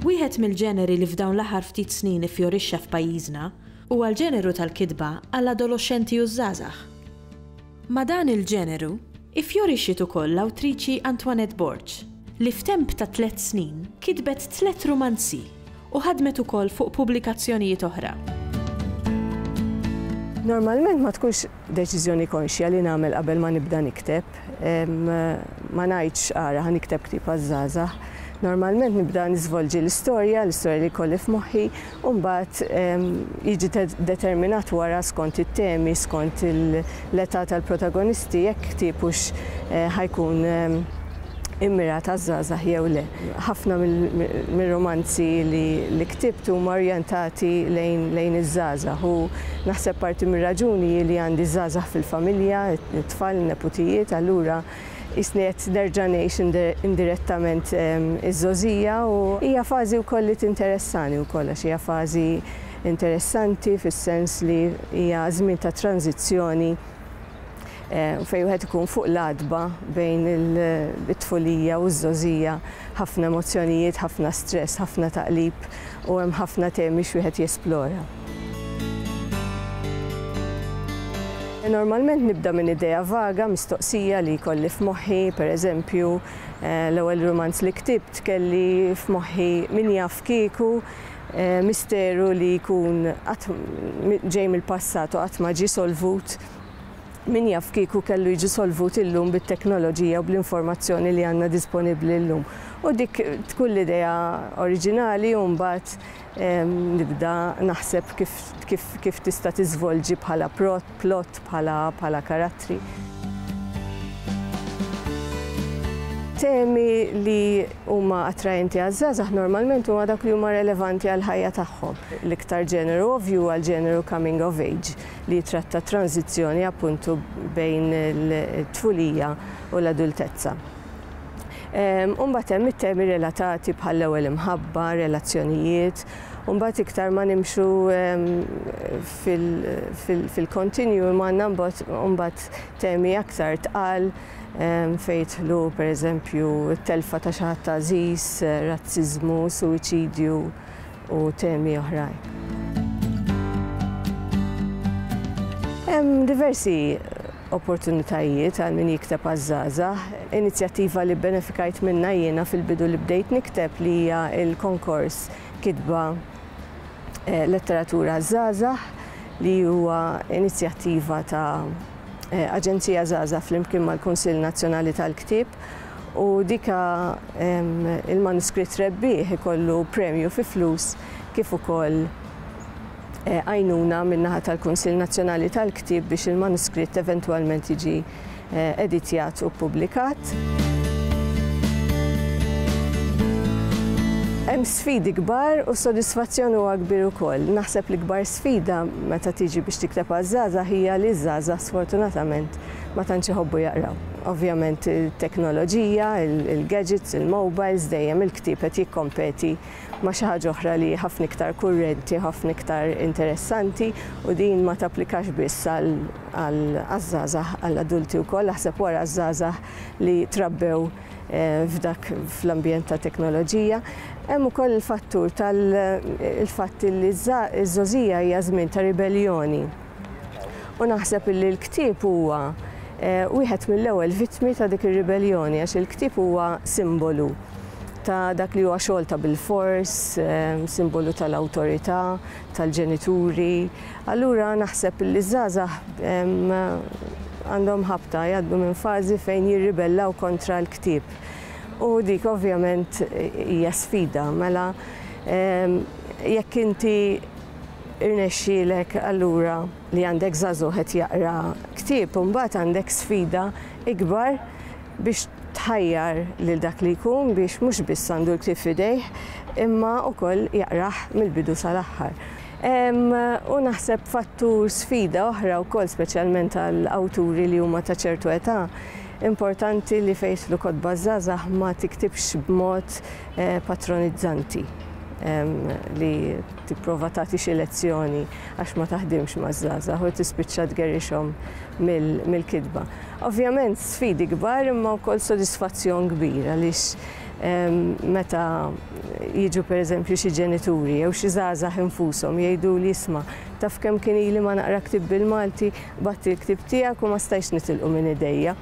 Wieħed mill-ġeneri li f'dawn l-aħħar ftit snin iffjorixxa f'pajjiżna huwa l-ġeneru tal-kitba għall-adoloxxenti u ż-żgħażagħ. Ma' dan il-ġeneru iffjorixiet ukoll l-awtriċi Antoinette Borg, li f'temp ta' tliet snin kitbet tliet rumanzi u ħadmet ukoll fuq pubblikazzjonijiet oħra. Normalment ma tkunx deċiżjoni konxja li nagħmel qabel ma nibda nikteb. Ma ngħidx ara ħa nikteb ktieb għaż-żgħażagħ. Normalment nibda niżvolġi l-istorja, l-istorja li jkolli f'moħħi, u mbagħad jiġi determinat wara skont it-temi, skont l-età tal-protagonisti jekk ktieb hux ħa jkun immirat għaż-żgħażagħ jew le. Ħafna mir-rumanzi li ktibt huma orjentati lejn iż-żgħażagħ u naħseb parti mir-raġuni hi li għandi ż-żgħażagħ fil-familja, it-tfal, in-neputijiet, allura Qisni qed nerġa' ngħix indirettament iż-żgħożija u hija fażi wkoll li tinteressani wkoll għax hija fażi interessanti fis-sens li hija żmien ta' tranżizzjoni fejn wieħed ikun fuq l-għatba bejn it-tfulija u ż-żgħożija, ħafna emozzjonijiet, ħafna stress, ħafna taqlib u hemm ħafna temi x'wieħed jesplora. Normalment nibda minn idea vaga, mistoqsija li jkolli f'moħħi, per eżempju, l-ewwel rumanz li ktibt kelli f'moħħi min jaf kieku, misteru li jkun qatt ġej mill-passat u qatt ma ġie solvut, min jaf kieku kellu jiġi solvut illum bit-teknoloġija u bl-informazzjoni li għandna disponibbli llum. U dik tkun l-idea oriġinali u mbagħad Nibda naħseb kif tista' tiżvolġi bħala plot, bħala karattri. Temi li huma attraenti għaż-żgħażagħ normalment huma dawk li huma relevanti għall-ħajja tagħhom. L-iktar ġeneru ovvju huwa l-ġeneru coming of age li jitratta t-tranżizzjoni appuntu bejn it-tfulija u l-adultezza. Ehm, u mbagħad hemm it-temi relatati bħall-ewwel imħabba, relazzjonijiet, u mbagħad iktar ma nimxu ehm, fil-kontinju imma għandna mbagħad temi aktar tqal ehm, fejtħlu pereżempju t-telfa ta' xi ħadd għażiż, razziżmu, suwiċidju, u temi oħrajn. Hemm diversi opportunitajiet għal min jikteb għaż-żgħażagħ. Inizjattiva li benefikajt minnha jiena fil-bidu li bdejt nikteb li hija l-konkors kitba eh, letteratura żgħażagħ li huwa inizjattiva ta' eh, Aġenzija Żgħażagħ flimkien mal-Kunsill Nazzjonali tal-Ktieb u dika il-manuskritt rebbieħ ikollu premju fi flus kif ukoll eh, għajnuna min-naħa tal-Kunsill Nazzjonali tal-Ktieb biex il-manuskritt eventwalment jiġi eh, editjat u ppubblikat. Hemm sfidi kbar u sodisfazzjon huwa kbir ukoll. Naħseb li kbar sfida meta tiġi biex tikteb għaż-żgħażagħ hija li ż-żgħażagħ sfortunatament ma tantx iħobbu jaqraw. Ovvjament it-teknoloġija, il-gadgets, il-mobiles, dejjem il-ktieb qed jikkompeti ma' xi ħaġa oħra li hi ħafna iktar kurrenti, ħafna iktar interessanti u din ma tapplikax biss għaż-żgħażagħ, għall-adulti wkoll. Aħseb wara ż-żgħażagħ li trabbew eh, f'dak fl-ambjent ta' teknoloġija. Hemm ukoll il-fattur tal-fatt li ż-żożija hija żmien ta' ribelljoni. U naħseb illi l-ktieb huwa wieħed mill-ewwel vittmi ta' dik ir-ribelljoni għax il-ktieb huwa simbolu ta' dak li huwa xogħol ta' bilfors, simbolu tal-awtorità, tal-ġenituri. Allura naħseb illi ż-żgħażagħ għandhom ħabta jgħaddu minn fażi fejn jirribellaw kontra l-ktieb. U dik ovvjament hija sfida, mela jekk inti Irnexxielek allura li għandek żagħżugħ qed jaqra ktieb u mbagħad għandek sfida ikbar biex tħajjar lil dak li jkun biex mhux biss għandu l-ktieb f'idejh imma wkoll jaqrah mill-bidu sal-aħħar. Hemm, u naħseb fattur sfida oħra wkoll speċjalment għal awturi li huma ta' ċertu età, importanti li fejn jidħlu kotba żgħażagħ ma tiktibx b'mod patronizzanti li tipprova tagħti xi lezzjoni għax ma taħdimx maż-żgħażagħ u tispiċċa tgerrixhom mill-kitba. Ovvjament sfidi kbar imma wkoll sodisfazzjon kbir għaliex ehm, meta jiġu pereżempju xi ġenituri jew xi żgħażagħ infushom jgħidu li jisma' taf kemm kien ili ma naqra ktib bil-Malti, batti l-ktib tiegħek u ma stajx nitilqu minn idejja.